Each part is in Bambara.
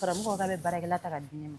karamɔgɔ k'a bɛ baarakɛla ta ka di ne ma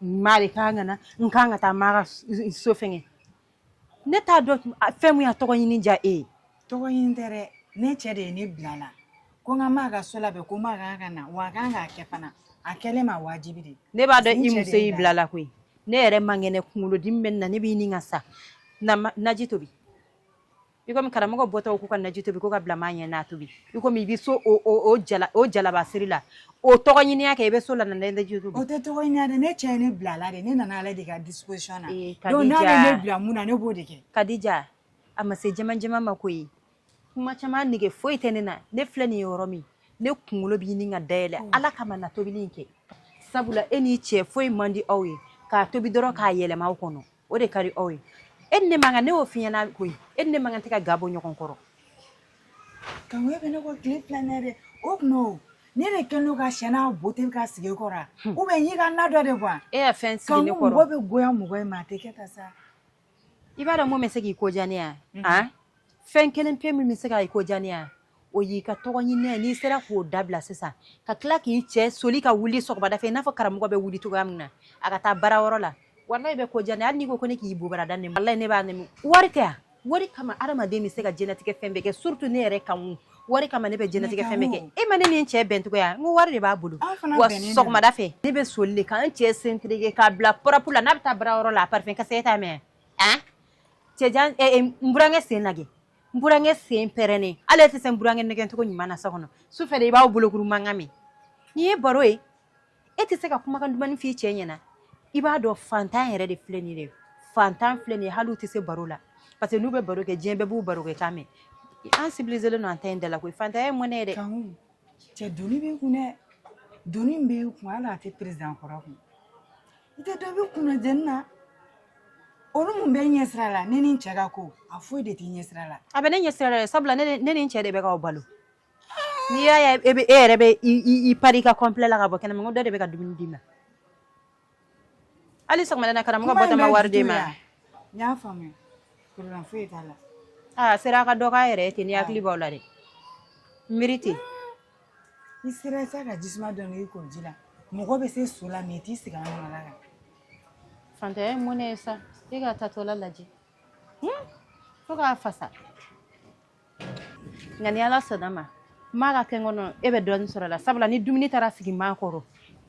Maa de ka kan ka na n ka kan ka taa maa ka so fɛngɛ ne t'a dɔn fɛn min ye tɔgɔ ɲini diya e ye tɔgɔ ɲini tɛ dɛ ne cɛ de ye ne bila la ko n ka maa ka so labɛn ko maa ka kan ka na wa a ka kan k'a kɛ fana a kɛlen ma wajibi de ne b'a dɔn i muso y'i bila la koyi ne yɛrɛ man kɛnɛ kunkolodimi bɛ n na ne bɛ ɲini ka sa naji tobi i komi karamɔgɔ bɔtɔ k'u ka naji tobi ko ka bila maa ɲɛ n'a tobi i komi i bɛ so o jalabasiri la o tɔgɔ ɲiniya kɛ i bɛ so la naji tobi o tɛ tɔgɔ ɲiniya dɛ ne cɛ ye ne bila la de ne nana ale de ka disposition na ee, donc n'a bɛ ne bila mun na ne b'o de kɛ Kadija a ma se jɛman jɛman ma ko ye kuma caman nege foyi tɛ ne na ne filɛ nin ye yɔrɔ min ne kunkolo bɛ ɲini ka dayɛlɛ oh. ala kama na tobili in kɛ sabula e n'i cɛ foyi man di aw ye k'a tobi dɔrɔn k'a yɛlɛma aw kɔnɔ o de ka di aw ye e ni ne man kan ne y'o f'i ɲɛna koyi e ni ne man kan tɛ ka ga bɔ ɲɔgɔn kɔrɔ kangoya bɛ ne kɔ tile fila in na dɛ o tuma o ne de kɛlen don ka siyɛn n'a boteli ka sigi e kɔrɔ a ou bien y'i ka na dɔ de bɔ e ka fɛn sigi ne kɔrɔ kanko mɔgɔ bɛ goya mɔgɔ ye ma a tɛ kɛ ta sa i b'a dɔn mun bɛ se k'i ko diya ne yan fɛn kelen pe min bɛ se ka i ko diya ne yan o y'i ka tɔgɔ ɲini n'i sera k'o dabila sisan ka tila k'i cɛ soli ka wuli sɔgɔmada fɛ n'a fɔ karamɔgɔ bɛ wuli cogoya min na a ka taa baara yɔrɔ la wa bɛ ko jan hali ko ne k'i bobara da ne ne b'a nɛmu wari tɛ wari kama hadamaden bɛ se ka jɛnɛtigɛ fɛn bɛɛ kɛ surtout ne yɛrɛ kan wari kama ne bɛ jɛnɛtigɛ fɛn bɛɛ kɛ e ma ne ni cɛ bɛncogoya n ko wari de b'a bolo wa sɔgɔmada fɛ ne bɛ soli de ka n cɛ sentirike k'a bila pɔrɔpu la n'a bɛ taa baara yɔrɔ la a parifɛn ka se e t'a mɛn a cɛ n burankɛ sen lajɛ n burankɛ sen pɛrɛnnen ale tɛ se n burankɛ nɛgɛncogo ɲuman na so kɔnɔ su fɛ de i b'aw bolokuru mankan mɛn nin ye baro ye e tɛ se ka kumakan dumannin f'i cɛ ɲɛna i b'a dɔn fantan yɛrɛ de filɛ nin de fantan filɛ nin hali tɛ se baro la parce que n'u bɛ baro kɛ diɲɛ bɛɛ b'u baro kɛ kan mɛn an sibize don an ta in da la koyi fantan ye mɔnɛ yɛrɛ cɛ doni bɛ kun dɛ doni bɛ kun hali a tɛ perezan kɔrɔ kun I tɛ dɔ bɛ kunna jɛni na olu mun b'e ɲɛ sira la ne ni n cɛ ka ko a foyi de t'e ɲɛ sira la a bɛ ne ɲɛ sira la dɛ sabula ne ni- ne ni n cɛ de bɛ k'aw balo n'i y'a ye e bɛ e yɛrɛ bɛ i i- i pari i ka kɔnpilɛ la ka bɔ kɛnɛma n ko dɔ de bɛ ka dumuni d'i ma hali sɔgɔmada in na karamɔgɔ Kuma in bɔtɔ ma bɛ wari d'i dusu ma ya. n y'a faamuya problème foyi t'a la a sera a ka dɔ k'a yɛrɛ ye ten ni hakili b'aw la dɛ miiri ten i sera i ka jisuma dɔ n'i k'o ji la mɔgɔ bɛ se so la mɛ i t'i sigi an nɔnɔ la kan fantanya ye mɔnɛ ye sa e ka tatɔla lajɛ fo k'a fasa nka ni ala sɔnna ma maa ka kɛ n kɔnɔ e bɛ dɔɔnin sɔrɔ la sabula ni dumuni taara sigi maa kɔrɔ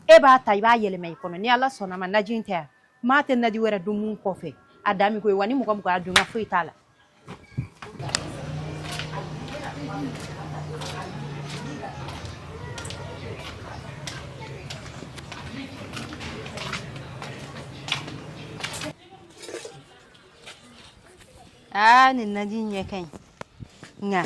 e b'a ta i b'a yɛlɛma i kɔnɔ ni ala sɔnna ma naji in tɛ yan maa tɛ naji wɛrɛ dun mun kɔfɛ a dan min ko ye wa ni mɔgɔ mɔgɔ y'a dun ka foyi t'a la Ah, nina jin ya kai. Nga.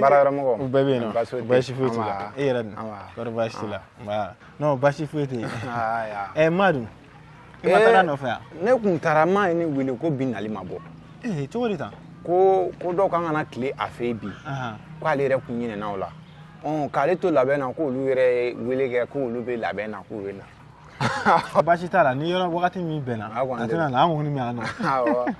baara yɔrɔ mɔgɔ u bɛɛ bɛ yen nɔ baasi foyi t'i la e yɛrɛ dun kɔrɔ baasi t'i la nba non baasi foyi tɛ yen ɛ ma dun i ma taga nɔfɛ yan ne kun taara ma ye ne wele ko bi nali ma bɔ ee cogo di tan ko ko dɔw kan ka na tile a fɛ bi k'ale yɛrɛ kun ɲinɛna o la k'ale to labɛn na k'olu yɛrɛ ye wele kɛ k'olu bɛ labɛn na k'u bɛ na baasi t'a la ni yɔrɔ wagati min bɛnna A kɔni a tɛna na an kɔni bɛ yan nɔ Awɔ.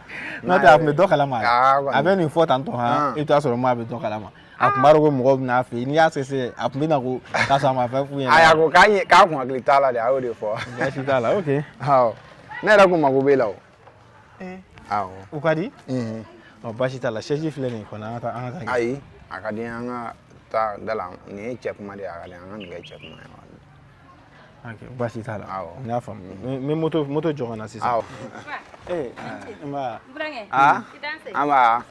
n'o tɛ a tun bɛ dɔ kalama Aa, kɔni. a bɛ nin fɔ tantɔ han Ɔn. i bɛ t'a sɔrɔ maa bɛ dɔ kalama a tun b'a dɔn ko mɔgɔw bɛna a fɛ yen n'i y'a sese a tun bɛ na ko k'a sɔrɔ a ma fɛn f'u ɲɛna A y'a ko k'a ye k'a kun hakili t'a la de a y'o de fɔ. baasi t'a la ok Awɔ. Ne yɛrɛ kun mago b'e la o. Eh. Awɔ. o ka di Mhm. ɔ baasi t'a la sɛji filɛ nin ye kɔni an ka taa an ka taa Ayi a ka di n ye an ka taa da la nin ye cɛ kuma de ye a ka di n ye an ka nin kɛ cɛ kuma ye. baasi t'a la n y'a faamu n bɛ moto jɔ ka na sisan ee nba aa nba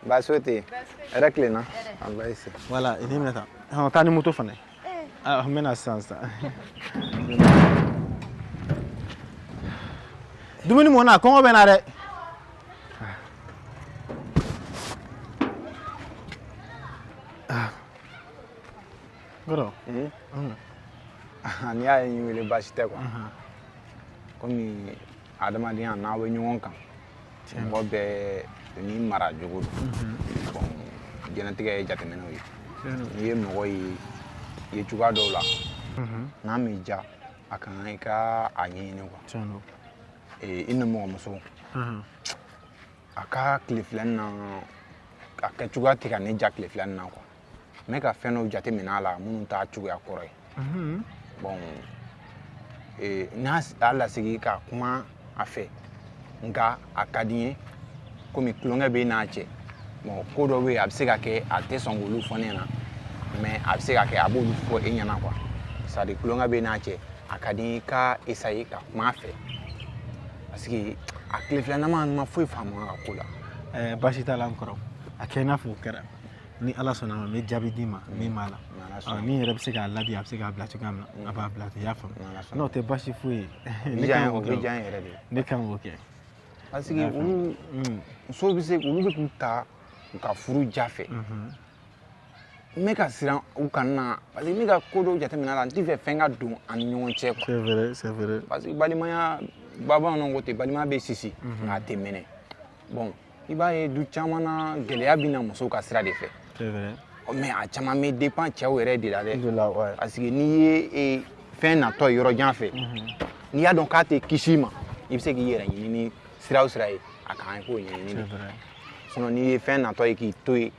baasi o tɛ yen hɛrɛ tilenna nba ese wala i nin minɛ tan hɔn taa ni moto fana ye n bɛna sisan sisan dumuni mɔna kɔngɔ bɛ n na dɛ Kɔrɔ. Ee. Unhun. N'i y'a ye n y'i wele baasi tɛ quoi. Unhun. Komi adamadenya n'aw bɛ ɲɔgɔn kan. Tiɲɛ don. Mɔgɔ bɛɛ n'i maracogo don. Unhun. Bon diɲɛlatigɛ ye jateminɛw ye. Tiɲɛ don. N'i ye mɔgɔ ye ye cogoya dɔw la. Unhun. N'a m'i diya a ka kan i ka a ɲɛɲini quoi. Tiɲɛ don. Ee i nimɔgɔmuso. Unhun. A ka tile fila in na a kɛ cogoya tɛ ka ne diya tile fila in na quoi. ne ka fɛn dɔw jate minɛ a la minnu t'a cogoya kɔrɔ ye bɔn eh, n m'a lasigi ka kuma a fɛ nka a ka di n ye komi tulonkɛ b'i n'a cɛ bɔn ko dɔ bɛ yen a bɛ se ka kɛ a tɛ sɔn k'olu fɔ ne ɲɛna mɛ a bɛ se ka kɛ a b'olu fɔ e ɲɛna quoi sadi tulonkɛ b'i n'a cɛ a ka di n ye i ka esaye ka kuma a fɛ parce que a tile fila in na n ma foyi faamu a ka ko la eh, baasi t'a la n kɔrɔ a kɛ i n'a fɔ o kɛra ni ala sɔnna a ma n bɛ jaabi d'i ma min b'a la min yɛrɛ bɛ se k'a ladi a bɛ se k'a bila cogoya min na a b'a bila ten i y'a faamu n'o tɛ baasi foyi ye ne kan k'o kɛ ne kan k'o kɛ parce que olu musow bɛ se olu bɛ k'u ta u ka furu ja fɛ n bɛ ka siran u kana parce que ne ka ko dɔw jateminɛ la n tɛ fɛ fɛn ka don an ni ɲɔgɔn cɛ quoi c'est vrai c'est vrai parce que balimaya bamananw ko ten balimaya bɛ sisi nka a tɛ mɛnɛ bon i b'a ye du caman na gɛlɛya bɛ na musow ka sira de fɛ mais a caman bɛ dépend cɛw yɛrɛ de la dɛ parce que n'i ye fɛn natɔ ye yɔrɔ jan fɛ mhm. n'i y'a dɔn k'a tɛ kisi ma i bɛ se k'i yɛrɛ ɲini ni sira o sira ye a kan i k'o ɲɛɲini sinon n'i ye fɛn natɔ ye k'i to yen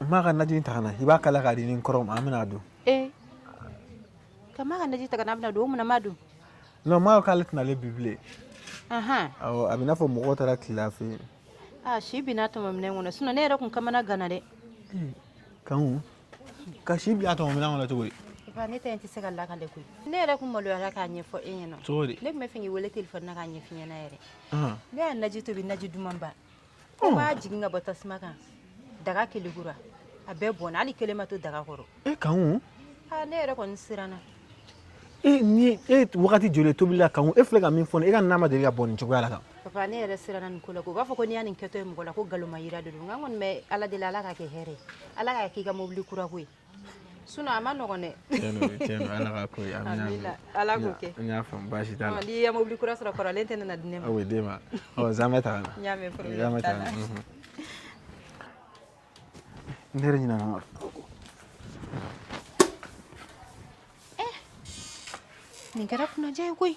maa ka najinin ta ka na i b'a kalaya k'a di n ni n kɔrɔ ma an bɛna a dun ee ka maa ka naji ta ka na a bɛna dun o munna maa dun non n b'a dɔn k'ale tɛna na bi bilen ahan awɔ a bɛ i n'a fɔ mɔgɔw taara tilen a fɛ yen a si binna tɔmɔ minɛn kɔnɔ sinɔn ne yɛrɛ kun kamanaganna dɛ kanku ka si bila a tɔmɔ minɛn kɔnɔ cogo di ba ne ta in tɛ se ka lakale koyi ne yɛrɛ kun maloyara k'a ɲɛfɔ e ɲɛna cogo di ne tun bɛ fɛ k'i wele telefɔni na k'a ɲɛf'i ɲɛna yɛrɛ ahan ne y'a naji tobi naji duman ba Ko n b'a jigin ka bɔ tasuma kan daga kɛlɛkura a bɛɛ bɔnna hali kelen ma to daga kɔrɔ e ka ne yɛrɛ kɔni siranna e nin ye wagati joli tobili la kan e filɛ ka min fɔ e ka na ma deli ka bɔn nin cogoya la kan papa ne yɛrɛ siranna nin ko la k'u b'a fɔ ko n'i ye nin kɛtɔ ye mɔgɔ la ko galomayira de don n kɔni bɛ ala deli ala k'a kɛ hɛrɛ ye ala k'a k'i ka mobili kura ko ye Sun a ma nɔgɔ dɛ ala y'a baasi n'i ye mobili kura sɔrɔ kɔrɔlen tɛna di ne ma n ɲɛna nin kɛra kunnadiya ye koyi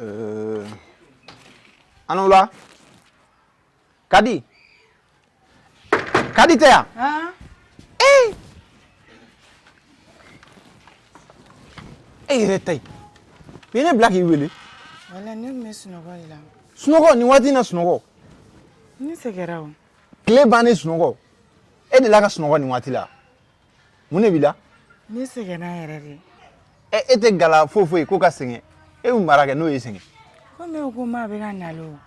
Euh, a ni ula kadi kadi tɛ yan ah. eh. e yɛrɛ ta ye u ye ne bila k'i wele walayi ne tun bɛ sunɔgɔ de la sunɔgɔ nin waati in na sunɔgɔ ne sɛgɛnna o tile bannen sunɔgɔ e delila ka sunɔgɔ nin waati la mun de b'i la ne sɛgɛnna yɛrɛ de ɛ e tɛ gala foyi foyi ko ka sɛgɛn e bɛ mun baara kɛ n'o y'i sɛgɛn ko ne ko maa bɛ ka na o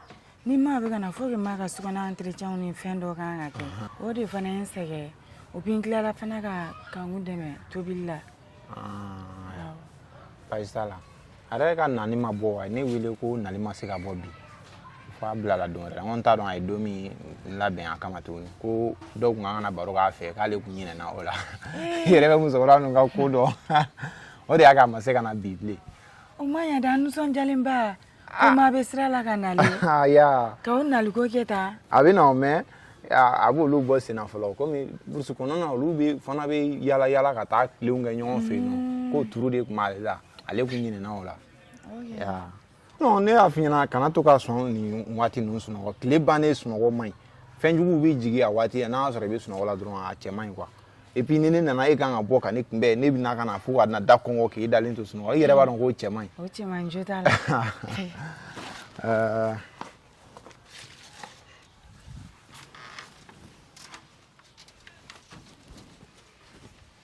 ni maa bɛ ka na faut que maa ka sokɔnɔ entretien ni fɛn dɔ kan ka kɛ o de fana ye n sɛgɛn o bi n tilala fana ka kanku dɛmɛ tobili la baasi t'a la a yɛrɛ ka nani ma bɔ a ye ne wele ko nali ma se ka bɔ bi fo a bilala don wɛrɛ la n ko n t'a dɔn a ye don min labɛn a kama tuguni ko dɔw kun ka kan ka na baro k'a fɛ k'ale kun ɲinɛna o la i yɛrɛ bɛ musokɔrɔba ninnu ka ko dɔn o de y'a kɛ a ma se ka na bi bilen o ma ɲa dɛ an nisɔndiyalenba ko maa bɛ sira la ka nali Ah, ya ka o naliko kɛ tan a bɛ na o mɛn a a b'olu bɔ senna fɔlɔ komi burusi kɔnɔna na olu bɛ fana bɛ yaala yaala ka taa tilenw kɛ ɲɔgɔn fɛ yen nɔ k'o turu de tun b'ale la ale kun ɲinɛna o la non ne y'a f'i ɲɛna kana to ka sɔn nin waati ninnu sunɔgɔ tile bannen sunɔgɔ man ɲi fɛn juguw bɛ jigin a waati n'a y'a sɔrɔ i bɛ sunɔgɔ la dɔrɔn a cɛ man ɲi quoi et puis ni ne nana e kan ka bɔ ka ne kunbɛn ne bɛna ka na fo ka na da kɔnkɔn k'e dalen to sunɔgɔ i yɛrɛ b'a dɔn k'o cɛ man ɲi o cɛ man ɲi jo t'a la euh,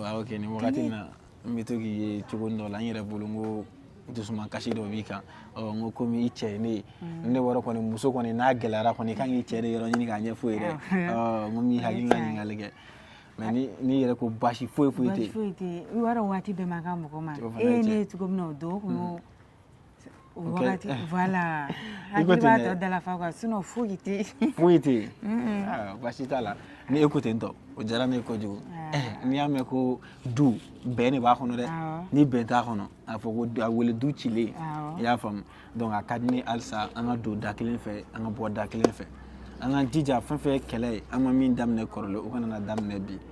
waaw ok nin wagati na n bɛ to k'i ye cogo dɔ la n yɛrɛ bolo n ko dusuma kasi dɔ b'i kan ɔ n ko komi i cɛ ye ne ye ne wɔrɔ kɔni muso kɔni n'a gɛlɛyara kɔni i kan k'i cɛ de yɔrɔ ɲini k'a ɲɛf'a ye dɛ ɔ n ko min hakili ka ɲininkali kɛ mais ni n'i yɛrɛ ko baasi foyi foyi tɛ yen foyi tɛ yen i b'a dɔn waati bɛɛ man kan mɔgɔ ma e ye ne ye cogo min na o don o kun y'o O wagati ok voilà i ko ten dɛ, hakili b'a tɔ dala fa quoi sinon foyi tɛ yen. foyi tɛ yen Mm-mm. Ah, baasi t'a la ni e ko ten tɔ o diyara ne ye kojugu Ah. Eh, n'i y'a mɛn ko du bɛn de b'a kɔnɔ dɛ Awɔ. ni bɛn t'a kɔnɔ a fɔ ko du- a wele du cilen Awɔ. i y'a faamu donc a ka di ne ye halisa an ka don da kelen fɛ an ka bɔ da kelen fɛ an k'an jija fɛn fɛn ye kɛlɛ ye an ma min daminɛ kɔrɔlen o kana na daminɛ bi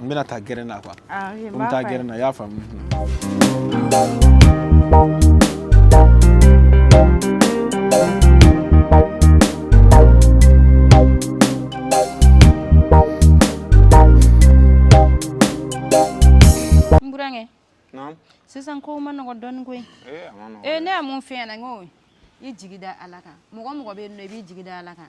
n bɛna taa gɛrɛn na quoi ah, n bɛ taa gɛrɛn na i y'a faamu sisan kow man nɔgɔ dɔɔni koyi ee eh, ne ye mun f'i ɲɛna n ko i jigi da ala kan mɔgɔ mɔgɔ bɛ yen nɔ i b'i jigi da ala kan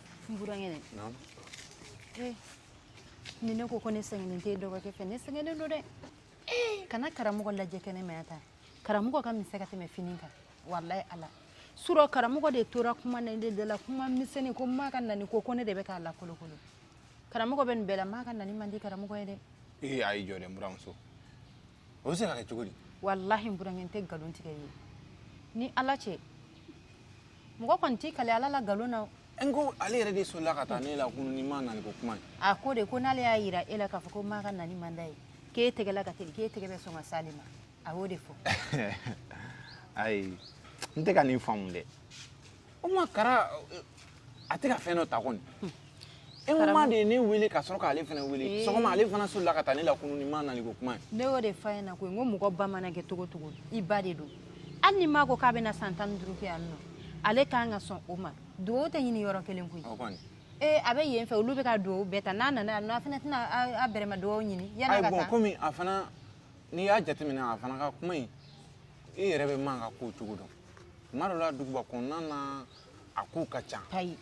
n burankɛ dɛ Naamu. ee ni ne ko ko ne sɛgɛnnen tɛ dɔgɔkɛ fɛ ne sɛgɛnnen don dɛ kana karamɔgɔ lajɛ kɛnɛma yan tan karamɔgɔ ka misɛn ka tɛmɛ fini kan walayi ala surɔ karamɔgɔ de tora kuma na de dala kuma misɛnni ko maa ka nani ko ko ne de bɛ k'a lakolokolo karamɔgɔ bɛ nin bɛɛ la maa ka nani man di karamɔgɔ ye dɛ ee a y'i jɔ dɛ n buramuso o bɛ se ka kɛ cogo di walahi n burankɛ n tɛ nkalon tigɛ i ye ni ala cɛ mɔgɔ kɔni t'i kale ala la nkalon na o. n ko ale yɛrɛ de solila ka taa ne la kunun ni maa naniko kuma ye a ko de ko n'ale y'a yira e la k'a fɔ ko maa ka nani man d'a ye k'e tɛgɛ la ka teli k'e tɛgɛ bɛ sɔn ka s'ale ma a y'o de fɔ ayi n tɛ ka nin faamu dɛ o ma kara a tɛ ka fɛn dɔ ta kɔni e ma de ye ne wele ka sɔrɔ k'ale fana wele sɔgɔma ale fana solila ka taa ne la kunun ni ma nali ko kuma ye ne y'o de f'a ɲɛna ko n ko mɔgɔ ba mana kɛ cogo o cogo i ba de don hali ni ma ko k'a bɛna san tan ni duuru kɛ yan nɔ ale k'an ka sɔn o ma dugawu tɛ ɲini yɔrɔ kelen koyi ee a bɛ yen fɛ olu bɛ ka dugawu bɛɛ ta n'a nana yan nɔ an fana tɛna an bɛrɛma dugawu ɲini yanni ka taa komi a fana n'i y'a jateminɛ a fana ka kuma in i yɛrɛ bɛ ma ka ko cogo dɔn tuma dɔ la duguba kɔnɔna na a kow ka ca koyi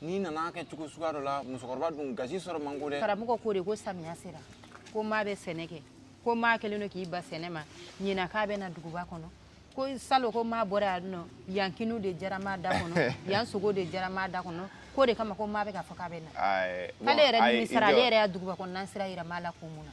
n'i nana kɛ cogo suguya dɔ la musokɔrɔba dun gasi sɔrɔ man go dɛ karamɔgɔ ko de ko samiya sera ko maa bɛ sɛnɛ kɛ ko maa kɛlen don k'i ban sɛnɛ ma ɲinan k'a bɛ na duguba kɔnɔ ko salon ko maa bɔra yan nɔ yan kini de diyara maa da kɔnɔ yan sogo de diyara maa da kɔnɔ k'o de kama ko maa bɛ k'a fɔ k'a bɛ na Ayi, bon, k'ale yɛrɛ ayi, nimisara i ale jɔ. yɛrɛ ye duguba kɔnɔna sira yira maa la ko mun na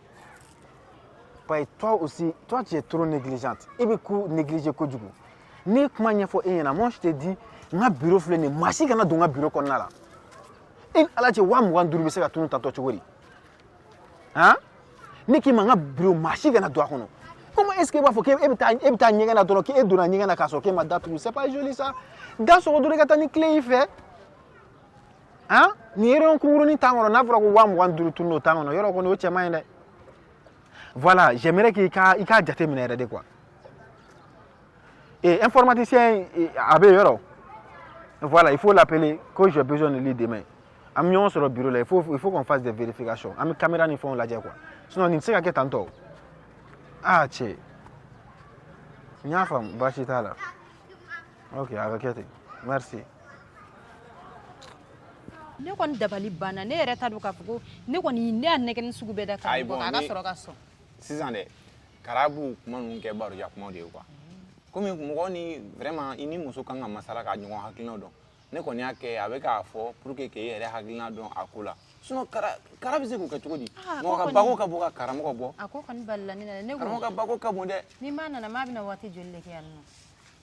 paye toi aussi toi tu es trop négligente i bɛ ko négliger kojugu ne ye kuma ɲɛfɔ e ɲɛna moi je te dis n ka bureau filɛ nin ye maa si kana don n ka bureau kɔnɔna la e ni ala cɛ waa mugan duuru bɛ se ka tunun tantɔ cogo di han ne k'i ma n ka bureau maa si kana don a kɔnɔ comment est ce que e b'a fɔ k'e bɛ taa e bɛ taa ɲɛgɛn na dɔrɔn k'e donna ɲɛgɛn na k'a sɔrɔ k'e ma da tugu c'est pas joli ça da sɔgɔ dɔrɔn i ka taa ni clé y'i fɛ han nin yɔrɔ kunkurunin tan kɔnɔ n'a fɔra ko waa mugan duuru tununna tan kɔnɔ yɔrɔ kɔni o cɛ man ɲi dɛ voilà j'aimerais k'i ka i k'a jateminɛ yɛrɛ de quoi et informaticien a bɛ yɔrɔ voilà il faut l'appeler que j'ai besoin de lui demain an bɛ ɲɔgɔn sɔrɔ bureau la il faut il faut qu'on fasse des vérifications an bɛ caméra ni fɛnw lajɛ quoi sinon nin tɛ se ka kɛ tantɔ ah cɛ n y'a faamu baasi t'a la. ok a ka kɛ ten merci ne kɔni dabali banna ne yɛrɛ t'a dɔn k'a fɔ ko ne kɔni ne y'a nɛgɛni sugu bɛɛ da k'a bɔ a ka sɔrɔ ka sɔn sisan dɛ kara bɛ kuma ninnu kɛ baroja kumaw de ye quoi komi mɔgɔ ni vraiment i ni muso kan ka masala ka ɲɔgɔn hakilinaw dɔn ne kɔni y'a kɛ a bɛ k'a fɔ pour que k'e yɛrɛ hakilina dɔn a ko la sinon kara kara bɛ se k'o kɛ cogo di mɔgɔ ka bako ka bon ka karamɔgɔ bɔ a ko kɔni balila ne na dɛ ne ko karamɔgɔ ka bako ka bon dɛ ni ma nana ma bɛna waati joli de kɛ yan nɔ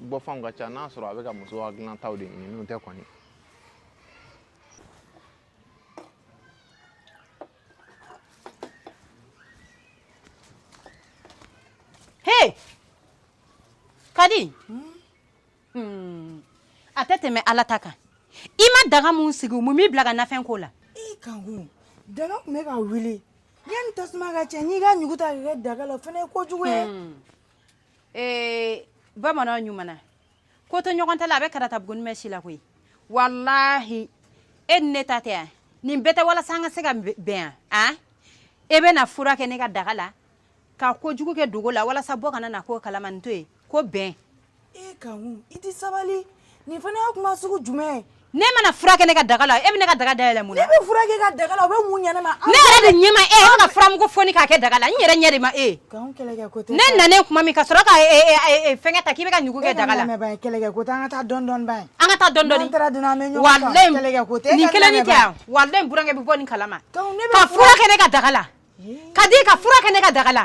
bɔfɛnw ka ca n'a sɔrɔ a bɛ ka muso ka dilan taw de ɲini n'o tɛ kɔni Hey! Kadi! Hmm. A tɛ tɛmɛ ala ta kan. I ma daga min sigi mun b'i bil'a ka nafɛn ko la? I kankun, daga tun bɛ ka wuli. Yanni tasuma ka cɛn, n y'i ka ɲugu ta k'a kɛ daga la, o fana ye kojugu ye. ee bamanan ɲumana ko to ɲɔgɔn ta la a bɛ karata bugunin mɛn si la koyi walahi e ni ne ta tɛ yan nin bɛɛ tɛ walasa an ka se ka bɛ- bɛn yan an e bɛ na fura kɛ ne ka daga la ka kojugu kɛ dogo la walasa bɔ kana na k'o kalama nin tɔ ye ko bɛn e ka i tɛ sabali nin fana ye kuma sugu jumɛn ye ne mana fura kɛ ne ka daga la e bɛ ne ka daga dayɛlɛ mun na ne bɛ fura kɛ ka daga la o bɛ mun ɲɛ ne ma ne yɛrɛ de ɲɛ ma e e bɛ ka furamugu foni k'a kɛ daga la n yɛrɛ ɲɛ de ma e ne nanen kuma min ka sɔrɔ ka fɛnkɛ ta k'i bɛ ka ɲugu kɛ daga la an ka taa dɔn dɔn ba ye an ka taa dɔn dɔn nin kelen ni tɛ yan walayi burankɛ bɛ bɔ nin kalama ka fura kɛ ne ka daga la kadi ka fura kɛ ne ka daga la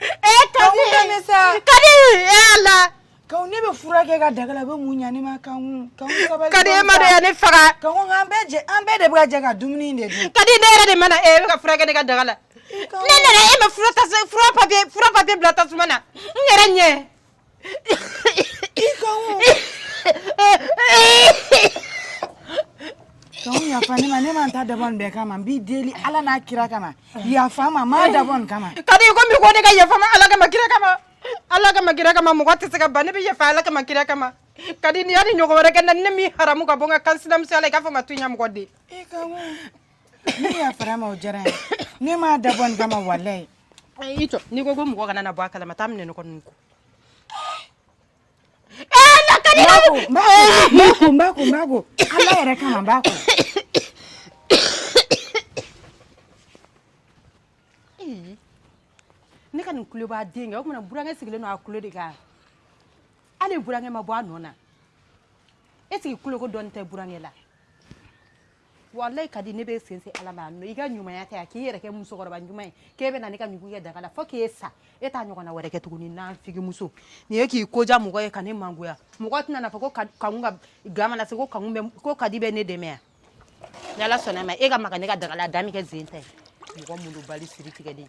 ee kadi kadi ee ala ko ne bɛ fura kɛ ka daga la bɛ mun ɲa ne ma kan kan sabali kadi e ma de yan ne faga kan an bɛɛ jɛ an bɛɛ de bɛ ka jɛ ka dumuni de dun kadi ne yɛrɛ de ma na e bɛ ka fura kɛ ne ka daga la ne nana e ma fura ta fura papier fura papier bila tasuma na n yɛrɛ ɲɛ yafa ne ma ne ma ta dabɔ nin bɛɛ kama n b'i deli ala n'a kira kama yafa n ma n m'a dabɔ nin kama kadi i ko mun ko ne ka yafa i ma ala kama kira kama ala kama kira kama mɔgɔ tɛ se ka ban ne bɛ yafa ala kama kira kama kadi n'i y'a nin ɲɔgɔn wɛrɛ kɛ n na ne b'i haramu ka bɔ n ka kan sinamusoya la i ka yafa n ma to ɲɛ mɔgɔ den ne yafara i ma o diyara ye ne m'a dabɔ nin kama walayi i jɔ n'i ko ko mɔgɔ kana na bɔ a kalama taa minɛ ne kɔni ko Mbako, mbako, mbako. Ala yɛrɛ kama mbako. Ne ka nin kuloba de kɛ o kuma na burankɛ sigilen don a kulo de kan hali burankɛ ma bɔ a nɔ na est ce que kuloko dɔɔni tɛ burankɛ la walayi kadi ne bɛ sen se ala ma i ka ɲumanya tɛ a k'i yɛrɛ kɛ musokɔrɔba ɲuman ye k'e bɛ na ne ka ɲugu kɛ daga la fo k'e sa e t'a ɲɔgɔnna wɛrɛ kɛ tuguni n'an figimuso nin ye k'i ko diya mɔgɔ ye ka ne mangoya mɔgɔ tɛna na fɔ ko kanu ka ga mana se ko kanu bɛ ko kadi bɛ ne dɛmɛ yan ni ala sɔnna ma e ka maga ne ka daga la a da min kɛ zen ta ye mɔgɔ malobali siri tigɛlen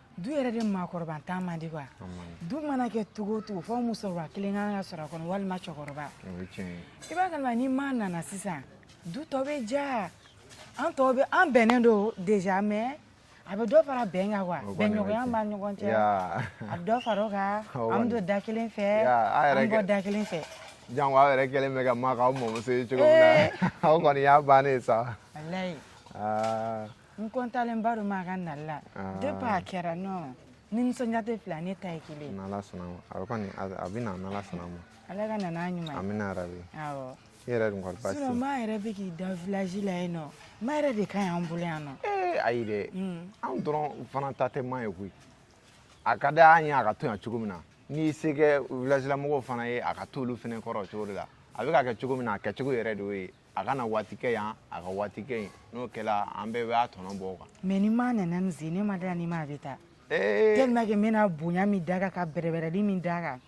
du yɛrɛ de maakɔrɔbantan man di quoi du mana kɛ cogo o cogo fo musokɔrɔba kelen kan ka sɔrɔ a kɔnɔ walima cɛkɔrɔba i b'a kalama ni ma nana sisan du tɔ bɛ diya an tɔ bɛɛ an bɛnnen don déjà mais a bɛ dɔ fara bɛn kan quoi bɛnɲɔgɔnya b'a ɲɔgɔn cɛ a bɛ dɔ fara o kan an bɛ don da kelen fɛ an bɛ bɔ da kelen fɛ janko aw yɛrɛ kɛlen bɛ ka ma k'aw mɔmuso ye cogo min na aw kɔni y'a bannen sa walayi n kɔntannen ba don ma ka nali la de b'a kɛra nɔ ni nisɔndiya tɛ fila ne ta ye kelen n'ala sɔnna ma a kɔni a bɛ na n'ala sɔnna ma ala ka nana ɲuman a bɛna yɛrɛ bi awɔ i yɛrɛ dun kɔni baasi ma yɛrɛ bɛ k'i da village la yen nɔ ma yɛrɛ de ka ɲi an bolo yan nɔ ee ayi dɛ anw dɔrɔn fana ta tɛ ma ye koyi a ka di an ye a ka to yan cogo min na n'i se kɛ village la mɔgɔw fana ye a ka t'olu fana kɔrɔ o cogo de la a bɛ ka kɛ cogo min na a kɛcogo yɛrɛ de y'o ye a kana waati kɛ yan a ka waati kɛ yen n'o kɛra an bɛɛ b'a tɔnɔ bɔ o kan mɛ ni maa nana nin sen ne ma da ni maa bɛ taa ee tellement que n bɛna bonya min d'a kan ka bɛrɛbɛrɛli min d'a kan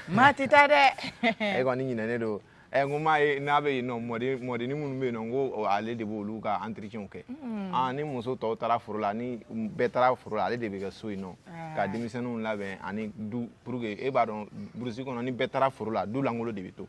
maa tɛ taa dɛ e kɔni ɲinɛnen don ɛ n ko m'a ye n'a bɛ yen nɔ mɔden mɔdennin minnu bɛ yen nɔ n ko o, ale de b'olu ka entretien kɛ ah, ni muso tɔw taara foro la ni bɛɛ taara foro la ale de bɛ kɛ so yen nɔ ka denmisɛnninw labɛn ani du parce que e b'a dɔn burusi kɔnɔ ni bɛɛ taara foro la du lankolon de bɛ to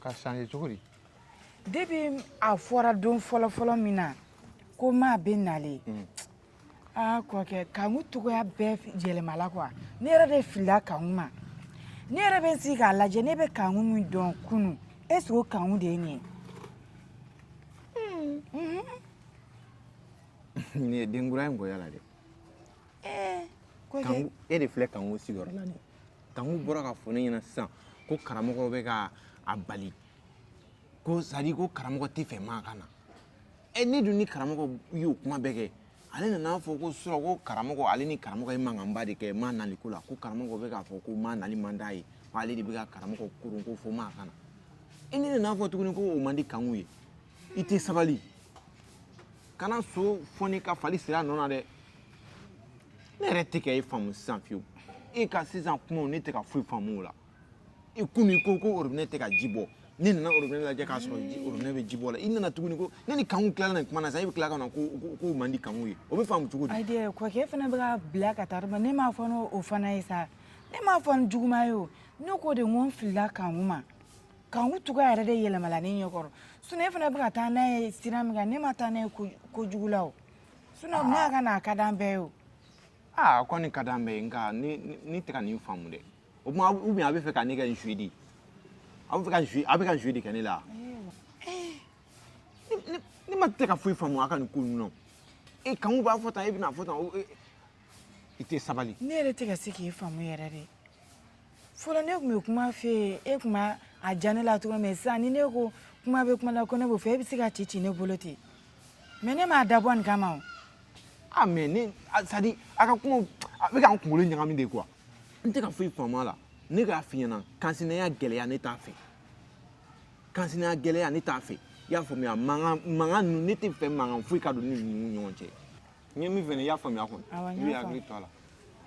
ka sange cogo di depi a fɔra don fɔlɔfɔlɔ min na ko maa bɛ nalen aa kɔkɛ kanku cogoya bɛɛ yɛlɛmala kuwa ne yɛrɛ de filila kanku ma ne yɛrɛ bɛ n sigi k'a lajɛ ne bɛ kanku min dɔn kunu esike o kanku de ye nin ye nin ye den kura ye nkɔya la dɛ kɔkɛ kanku e de filɛ kanku sigiyɔrɔ la nin ye kanku bɔra k'a fɔ ne ɲɛna sisan ko karamɔgɔ bɛ ka a bali ko sadi ko karamɔgɔ t'a fɛ maa ka na ɛ ne dun ni karamɔgɔ y'o kuma bɛɛ kɛ ale nana a fɔ k'o sɔrɔ ko karamɔgɔ ale ni karamɔgɔ ye mankanba de kɛ maa nali ko la ko karamɔgɔ bɛ k'a fɔ ko maa nali man d'a ye ko ale de bɛ ka karamɔgɔ koron ko fo maa ka na e ne nana a fɔ tuguni ko o man di kanku ye i tɛ sabali kana so foni ka fali siri a nɔ na dɛ ne yɛrɛ tɛ ka e faamu sisan fiyewu e ka sisan kumaw ne tɛ ka foyi faamu o la i komi ko ko orobinɛ tɛ ka ji bɔ ne nana orobinɛ lajɛ k'a sɔrɔ orobinɛ bɛ ji bɔ la i nana tuguni ko ne ni kanku tilala nin kuma na sisan e bɛ tila ka na ko k'o man di kanku ye o bɛ faamu cogo di. ayi kɔkɛ fana bɛ ka bila ka taa ne m'a fɔ n'o fana ye sa ne m'a fɔ ni juguman ye o ne k'o de n ko n filila kanku ma. Kanku cogo yɛrɛ de yɛlɛmala ne ɲɛkɔrɔ sun ne fana bɛ ka taa n'a ye sira min kan ne ma taa n'a ye kojugu la o sun maa ka na ka di an bɛɛ ye o aa a kɔni ka di an bɛɛ ye nka ne tɛ ka nin faamu dɛ o tuma u a bɛ fɛ ka ne kɛ n suwi di a bɛ fɛ ka n a bɛ ka n suwi de kɛ ne la ne ma tɛ ka foyi faamu a ka nin ko ninnu e kan b'a fɔ tan e bɛna a fɔ tan i tɛ sabali ne yɛrɛ tɛ ka se k'i faamu yɛrɛ de fɔlɔ ne tun bɛ kuma fɛ yen e tun b'a a diya ne la cogo min sisan ni ne ko kuma bɛ kuma la ko ne b'o fɛ e bɛ se ka ci ci ne bolo ten mɛ ne m'a dabɔ nin kama o. ah mɛ ne sadi a ka kuma a bɛ ka n kunkolo ɲagami de kuwa n tɛ ka foyi faamu a la ne k'a f'i ɲɛna kansinaya gɛlɛya ne t'a fɛ kansinaya gɛlɛya ne t'a fɛ i y'a faamuya mankan mankan ninnu ne t'a fɛ mankan foyi ka don ne ni ninnu ɲɔgɔn cɛ. n ye min f'i ɲɛ i y'a faamuya kɔni i b'i hakili to a la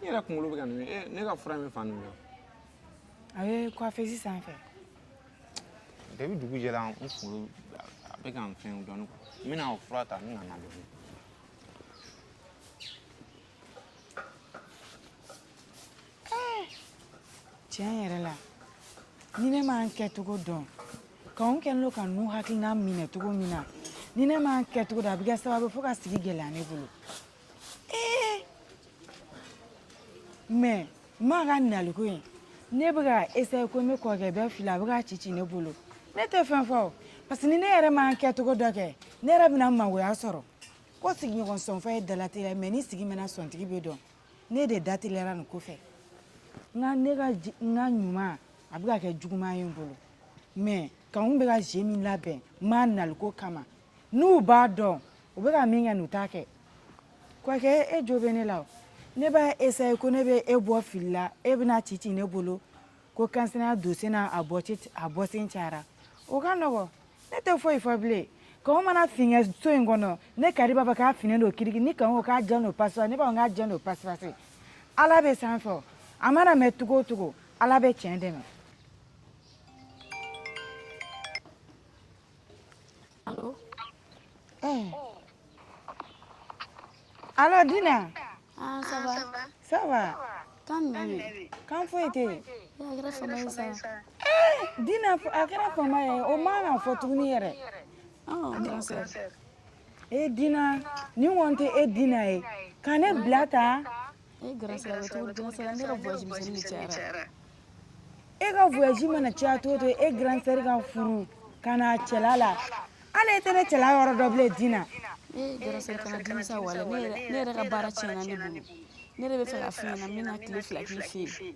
n yɛrɛ kunkolo bɛ ka nin eh, ne ka fura in bɛ fan jumɛn a bɛ kɔfɛsi sanfɛ depi dugu jɛra n kunkolo a bɛ ka n fɛn dɔɔni n bɛna o fura ta n bɛna na dɔɔni tiɲɛ yɛrɛ la ni ne ma n kɛcogo dɔn k'anw kɛlen don ka n'u hakilina minɛ cogo min na ni ne ma n kɛcogo dɔn a bɛ kɛ sababu ye ka sigi gɛlɛya ne bolo ee mɛ maa ka naliko in ne bɛ ka esaye ko ne kɔrɔkɛ bɔ fili la bɛ k'a cici ne bolo ne tɛ fɛn fɔ o parce que ni ne yɛrɛ ma n kɛcogo dɔ kɛ ne yɛrɛ bɛna mangoya sɔrɔ ko sigiɲɔgɔn sɔnfɔ ye dalateliya ye mɛ ni sigi mɛnna sɔntigi bɛ dɔn ne de dateliyara nin ko fɛ n ka ne ka n ka ɲuman a bɛ ka kɛ juguman ye n bolo mɛ kanw bɛ ka jeu min labɛn n ma naliko kama n'u b'a dɔn u bɛ ka min kɛ n'u t'a kɛ kɔkɛ e jo bɛ ne la o ne b'a esaye ko ne bɛ e bɔ fili la e bɛn'a cici ne bolo ko kansya don sen a a bɔsen cayara o ka nɔgɔ ne tɛ foyi fɔ bilen ko mana fin so in kɔnɔ ne kari b'a fɔ k'a fin don kiri ni ko ka jɛ don pasi ne b'a k'a jɛ don pasipasi ala bɛ san fɛ a mana mɛn cogo cogo ala bɛ tiɲɛ dɛmɛ allo. Eh. allo Dina. ah ça va. ça va. kan jumɛn bɛ yen. kan foyi tɛ yen. a kɛra fama ye sa. Eh, Dina a kɛra fama ye o man kan fɔ tuguni yɛrɛ. ɔ kɛra sa. e Dina nin kɔni tɛ e Dina ye ka ne bila tan. e ka voyage mana caya cogo cogo e grande sœur ka furu ka na cɛla la ala e tɛ ne cɛla yɔrɔ dɔn bilen dina e grande sœur kana dimi sa walayi ne yɛrɛ ne yɛrɛ ka baara tiɲɛna ne bolo ne yɛrɛ b'a fɛ ka f'i ɲɛ na n bɛna tile fila k'i fɛ yen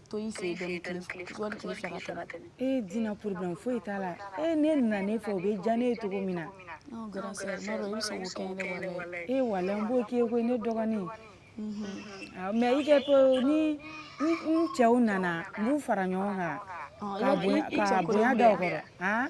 to y'i fɛ yen dɔɔni tile fila wali tile fila ka tɛmɛ e dina problème foyi t'a la e ne nana ne fɛ o bɛ diya ne ye cogo min na ɔ grande sœur n'a dɔn i bɛ se k'o kɛ ne wala ye e walayi n b'o k'i ye koyi ne dɔgɔnin Awɔ, mɛ i k'a to ni n n cɛw nana n b'u fara ɲɔgɔn kan Ɔ, i ka bɛ- i- i bonya cɛ ka kɔrɔ bonya da u kɔrɔ han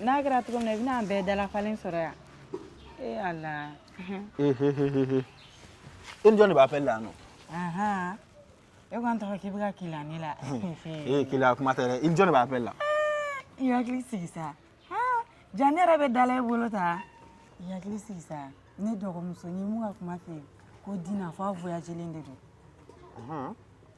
n'a kɛra cogo min na i bɛna an bɛɛ dalafalen sɔrɔ yan ee ala i ni jɔn de bɛ appel la yan nɔ ahan e ko an tɔgɔ k'i bɛ ka keleya ne la ee keleya kuma tɛ dɛ i ni jɔn de bɛ appel la i hakili sigi sa Ah, jaa ne yɛrɛ bɛ da la i bolo tan i hakili sigi sa ne dɔgɔmusonin min ka kuma fɛ ko dina fɔ a voyagelen de don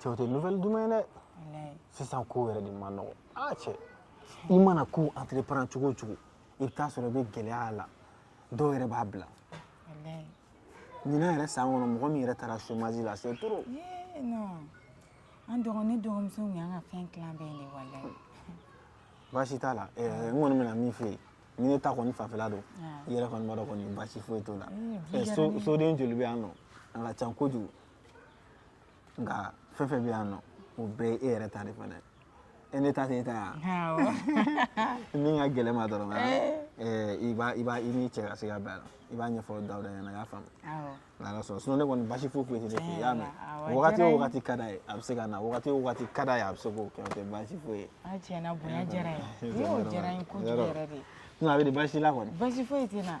cɛ o tɛ nouvelle duman ye dɛ sisan ko yɛrɛ de man nɔgɔ aa ah, cɛ i mana ko entreprendre cogo o cogo i bɛ t'a sɔrɔ i bɛ gɛlɛya a la dɔw yɛrɛ b'a bila ɲinan yɛrɛ san kɔnɔ mɔgɔ min yɛrɛ taara chômage la c'est trop an dɔgɔ ne dɔgɔmuso tun y'an ka fɛn tilan bɛɛ de walayi baasi t'a la eh, n kɔni bɛna min f'e ye ni ne ta kɔni fanfɛla don ah. i yɛrɛ kɔni b'a dɔn kɔni baasi foyi t'o la eh, eh, soden joli bɛ yan nɔ a ka ca kojugu nka fɛn fɛn bɛ yan nɔ o bɛɛ ye e yɛrɛ ta de fana ye e ne ta tɛ e ta ye wa min ka gɛlɛn i ma dɔrɔn i b'a i b'a i n'i cɛ ka se ka bɛn a la i b'a ɲɛfɔ dawuda ɲɛna a y'a faamu n'ala sɔnna sinɔn ne kɔni basi foyi foyi tɛ ne fɛ i y'a mɛn wagati o wagati ka d'a ye a bɛ se ka na wagati o wagati ka d'a ye a bɛ se k'o kɛ o tɛ basi foyi ye a tiɲɛ na bonya diyara n ye n'o diyara n ye kojugu yɛrɛ de sinɔn a bɛ di basi la kɔni basi foyi tɛ n na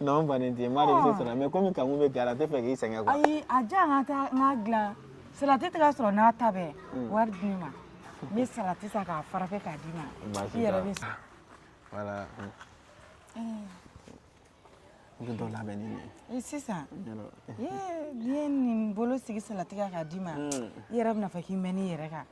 non n fannen tɛ n b'a dɔn i bɛ se sɔrɔ la mais komi kankun bɛ kɛra a tɛ fɛ k'i sɛgɛn quoi ayi a diya n ka taa n ka dilan salati tɛ ka sɔrɔ n'a ta bɛɛ wari di ne ma n bɛ salati san k'a préparer k'a d'i ma Baasi i yɛrɛ t'a bɛ la. voilà n bɛ dɔ labɛn ni nin ye i sisan n y'a dɔn. ye n'i ye nin bolo sigi salati kan k'a d'i ma i yɛrɛ bɛna fɔ k'i mɛn'i yɛrɛ kan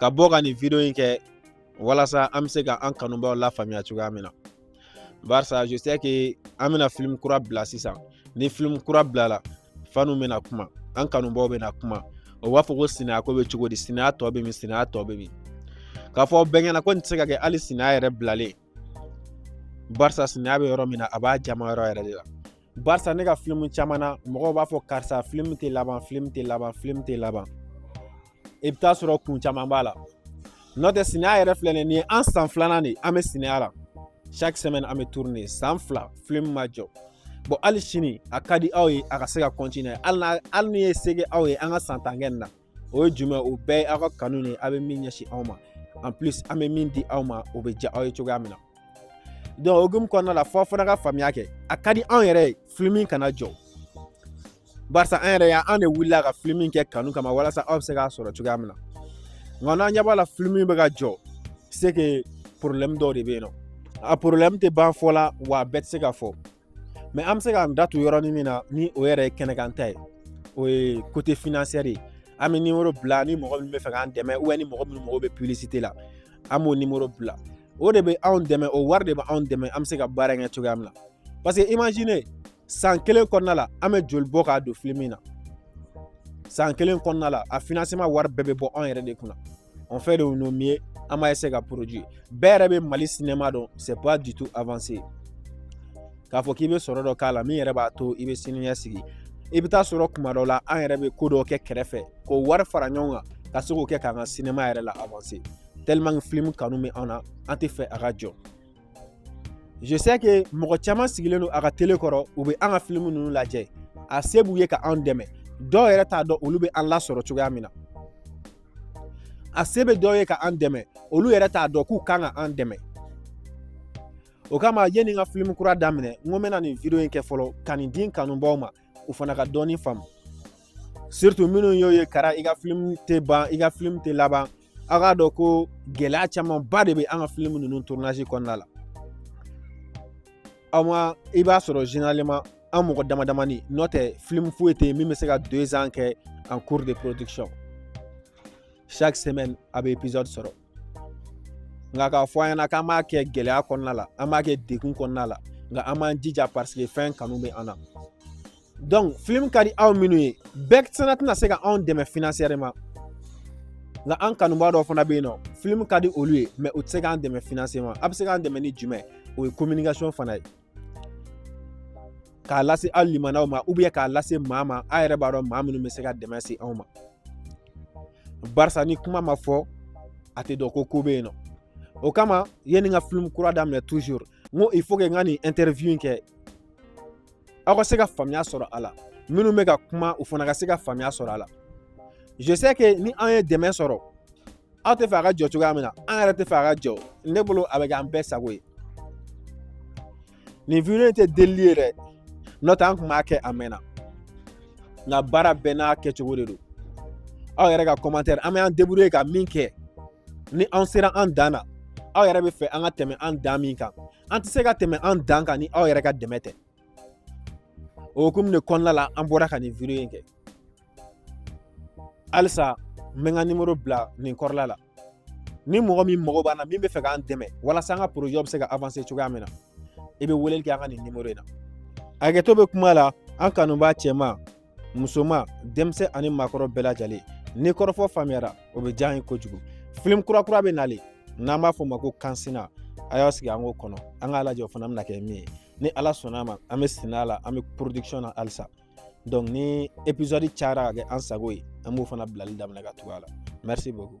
ka bɔ ka nin video in kɛ walasa an bɛ se ka an kanubaaw lafaamuya cogoya min na barisa je sais que an bɛna film kura bila sisan ni film kura bilala fanw bɛna kuma an kanubaaw bɛna kuma o b'a fɔ ko sinaya ko bɛ cogo di sinaya tɔ bɛ min sinaya tɔ bɛ min k'a fɔ bɛnkɛ na ko nin tɛ se ka kɛ hali sinaya yɛrɛ bilalen barisa sinaya bɛ yɔrɔ min na a b'a diyaman yɔrɔ yɛrɛ de la barisa ne ka filimu caman na mɔgɔw b'a fɔ karisa filimu tɛ laban filimu tɛ laban filimu tɛ laban i bɛ taa sɔrɔ kun caman b'a la n'o tɛ sinaya yɛrɛ filɛ nin ye an san filanan de an bɛ sinaya la chaque semaine an bɛ tourner de san fila filimu ma jɔ bon hali sini a ka di aw ye a ka se ka kɔntiniye hali n'a hali ni ye se kɛ aw ye an ka san tan kɛ nin na o ye jumɛn o bɛɛ ye aw ka kanu de ye aw bɛ min ɲɛsin an ma en plus an bɛ min di aw ma o bɛ diya aw ye cogoya min na donc hokumu kɔnɔna la fɔ aw fana ka faamuya kɛ a ka di anw yɛrɛ ye filimi kana jɔ barisa an yɛrɛ y'an de wulila ka filimi kɛ kanu kama walasa aw bɛ se k'a sɔrɔ cogoya min na nka n'aw ɲɛ b'a la filimi bɛ ka jɔ c'est que problème dɔw de bɛ yen nɔ a problème tɛ ban fɔ la wa a bɛɛ tɛ se ka fɔ mais an bɛ se k'an da tu yɔrɔnin min na ni o yɛrɛ ye kɛnɛkan ta ye o ye côté financière ye an bɛ nimoro bila ni mɔgɔ min bɛ fɛ k'an dɛmɛ ani mɔgɔ minnu mago bɛ publicité la an b'o nimoro bila o de bɛ anw dɛmɛ o wari de bɛ anw dɛmɛ an bɛ se ka baara kɛ cogoya min na parce que imagine san kelen kɔnɔna la an bɛ joli bɔ k'a don filimu na san kelen kɔnɔna la a financement wari bɛɛ bɛ bɔ anw yɛrɛ de kunna on fait de nos mieux an b'a essayer ka produire bɛɛ yɛrɛ bɛ mali sinɛma dɔn c'est pas du tout avancé k'a fɔ k'i bɛ sɔrɔ dɔ k'a la min yɛrɛ b'a to i bɛ sini ɲɛsigi i bɛ taa sɔrɔ tuma dɔ la an yɛrɛ bɛ ko dɔ kɛ kɛrɛfɛ k'o wari fara ɲɔgɔn kan ka se k'o kɛ k'an ka sinɛma yɛrɛ la avancer tellement que film kanu bɛ an na an tɛ fɛ a ka jɔ je sais que mɔgɔ caman sigilen don a ka tele kɔrɔ u bɛ an ka film ninnu lajɛ a se b'u ye ka an dɛmɛ dɔw yɛrɛ t'a dɔn olu bɛ an lasɔrɔ cogoya min na a se bɛ dɔw ye ka an dɛmɛ olu yɛrɛ t'a dɔn k'u kan ka an dɛmɛ o kama yanni n ka filimu kura daminɛ n ko n bɛna nin video in kɛ fɔlɔ ka nin di n kanubaaw ma u fana ka dɔɔni faamu surtout minnu y'o ye kara i ka filimu tɛ ban i ka filimu tɛ laban aw k'a dɔn ko gɛlɛya camanba de bɛ an ka filimu ninnu tournage kɔnɔna la aw ma i b'a sɔrɔ généralement an mɔgɔ dama damani nɔ tɛ film foyi tɛ yen min bɛ se ka deux ans kɛ en cours de production chaque semaine aw bɛ épisode sɔrɔ nka k'a fɔ an ɲɛna k'an b'a kɛ gɛlɛya kɔnɔna la an b'a kɛ degun kɔnɔna la nka an b'an jija parce que fɛn kanu bɛ an na donc film ka di aw minnu ye bɛɛ fana tɛna se ka anw dɛmɛ financièrement nka an kanubaa dɔw fana bɛ yen nɔ film ka di olu ye mais u tɛ se k'an dɛmɛ financièrement aw bɛ se k'an dɛmɛ ni jumɛn o ye communication fana ye k'a lase aw limaanaw ma k'a lase maa ma aw yɛrɛ b'a dɔn maa minnu bɛ se ka dɛmɛ se anw ma barisa ni kuma ma fɔ a tɛ dɔn ko ko bɛ yen nɔ o kama yanni n ka film kura daminɛ toujours n ko il faut que n ka nin interview in kɛ aw ka se ka faamuya sɔrɔ a la minnu bɛ ka kuma u fana ka se ka faamuya sɔrɔ a la je sais que ni an ye dɛmɛ sɔrɔ aw tɛ fɛ a ka jɔ cogoya min na an yɛrɛ tɛ fɛ a ka jɔ ne bolo a bɛ kɛ an bɛɛ sago ye nin in tɛ delili ye dɛ n'o tɛ an kun b'a kɛ a mɛnna nka baara bɛɛ n'a kɛcogo de don aw yɛrɛ ka commentaire an bɛ an débrouiller ka min kɛ ni an sera an dan na aw yɛrɛ bɛ fɛ an ka tɛmɛ an dan min kan an tɛ se ka tɛmɛ an dan kan ni aw yɛrɛ ka dɛmɛ tɛ o hukumu de kɔnɔna la an bɔra ka nin in kɛ halisa n bɛ n ka nimoro bila nin kɔrɔla la ni mɔgɔ min mago b'an na min bɛ fɛ k'an dɛmɛ walasa an ka bɛ se ka cogoya min na i bɛ weleli kɛ an ka nin nimoro in na hakɛto bɛ kuma la an kanubaa cɛman musoman denmisɛn ani maakɔrɔ bɛɛ lajɛlen ni kɔrɔfɔ faamuyara o bɛ diya an ye kojugu film kura kura bɛ nalen n'an b'a fɔ o ma ko kansina a y'a sigi an k'o kɔnɔ an k'a lajɛ o fana bɛna kɛ min ye ni ala sɔnna ma an bɛ senna la an bɛ production na halisa donc ni épisode cayara ka kɛ an sago ye an b'o fana bilali daminɛ ka tugu a la merci beaucoup